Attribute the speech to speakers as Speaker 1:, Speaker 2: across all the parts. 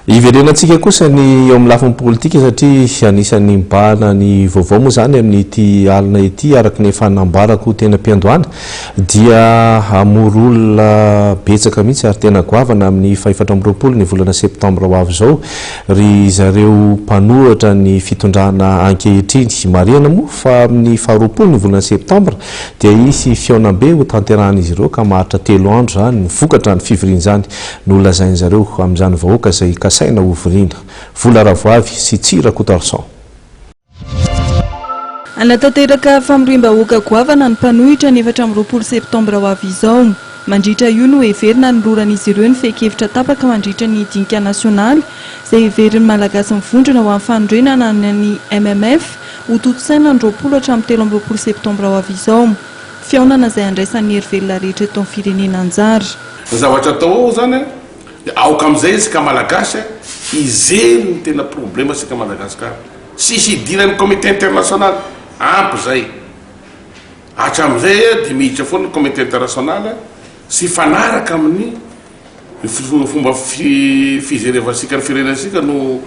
Speaker 1: Hiverenantsika kosa ny eo amin'ny lafiny politika satria anisan'ny mibahana ny vaovao moa izany amin'ity alina ity araka ny efa nambarako teny am-piandohana dia hamory olona betsaka mihitsy ary tena goavana amin'ny fahefatra amby roapolo ny volana septambra ho avy izao ry zareo mpanohatra ny fitondrana ankehitriny. Marihana moa fa amin'ny faharoapolo ny volana septambra dia hisy fihaonambe hotanterahan'izy ireo ka maharitra telo andro izany vokatra ny fivorian'izany Nolazain zareo amin izany vahoaka izay kasaina ho viriana. Vola Ravoavy sy Tsy Rakotoarison. Hanatanteraka
Speaker 2: famoriam-bahoaka goavana ny mpanohitra ny efatra amby roapolo septambra ho avy izao. Mandritra io no heverina hanoloran'izy ireo ny fehin-kevitra tapaka mandritra ny dinika nasionaly izay heverin'ny Malagasy mivondrona ho amin'ny fanorenana ny MMF ho tontosaina ny roapolo hatramin'ny telo amby roapolo septambra ho avy izao. Fihaonana izay handraisan'ny hery velona rehetra eto amin'ny firenena anjara. Ny zavatra atao
Speaker 3: ao zany dia aoka amizay isika malagasy hijery ny tena problema isika Madagascar sy hidiran'ny comité international ampy zay hatramizay dia miditra foana ny comité international sy hifanaraka amin'ny ny fomba fijerevansika ny firenentsika no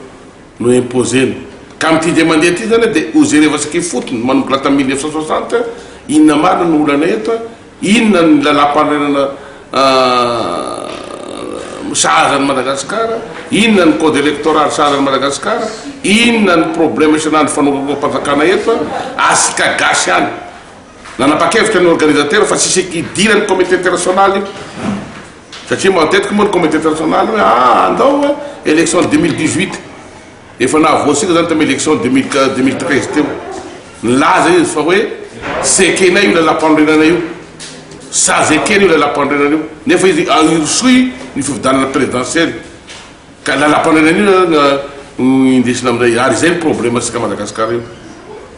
Speaker 3: no imposena ka amin'ity indray mandeha ity zany dia hojerevansika ifotony manomboka la tamin'ny mille neuf cent soixante inona marina no olana eto Inona ny lalàmpanorenana sahaza an'i Madagasikara? Inona ny code electoral sahaza an'i Madagasikara? Inona ny problème isan'andro fanompoam-panjakana eto an? Asika gasy any. Nanapa-kevitra ny organisateurs fa tsisy idiran'ny comité international io. Satria matetika moa ny comité international hoe ah andao an, élection dimy mille dix-huit. Efa nahavoasina izany tamin'ny élection deux mille deux mille treize teo. Nilaza izy fa hoe tsy ekenay io lalam-panorenana io. Sazy ekena io lalam-panorenana io. Nefa izy hirosoy ny fifidianana présidentielle. Ka lalam-panorenana io zany no no indesina amin'izay. Ary izay ny problème-ntsika Madagascar io.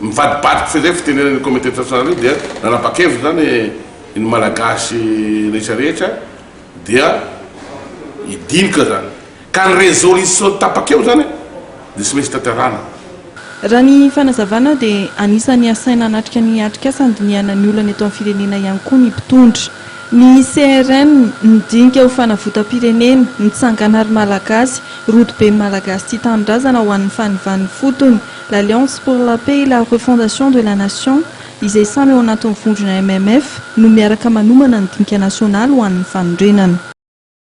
Speaker 3: Mivadibadiky fehizay fitenenana io communauté internationale io dia nanapa-kevitra izany ny Malagasy rehetra rehetra dia hidinika izany. Ka ny resolution tapaka eo zany dia tsy maintsy tanterahana. Raha
Speaker 2: ny fanazavana dia anisan'ny asaina hanatrika ny atrikasa handinihana ny olana eto amin'ny firenena ihany koa ny mpitondra. Ny CRN nidinika ho fanavotam-pirenena, ny tsangan'ny Art Malagasy, rodoben'ny Malagasy tia tanindrazana ho an'ny fanivan'ny fotony, l'Alliance pour la paix et la refondation de la nation, izay samy ao anatin'ny vondrona MMF, no miaraka manomana ny dinika nasionaly ho an'ny fanorenana.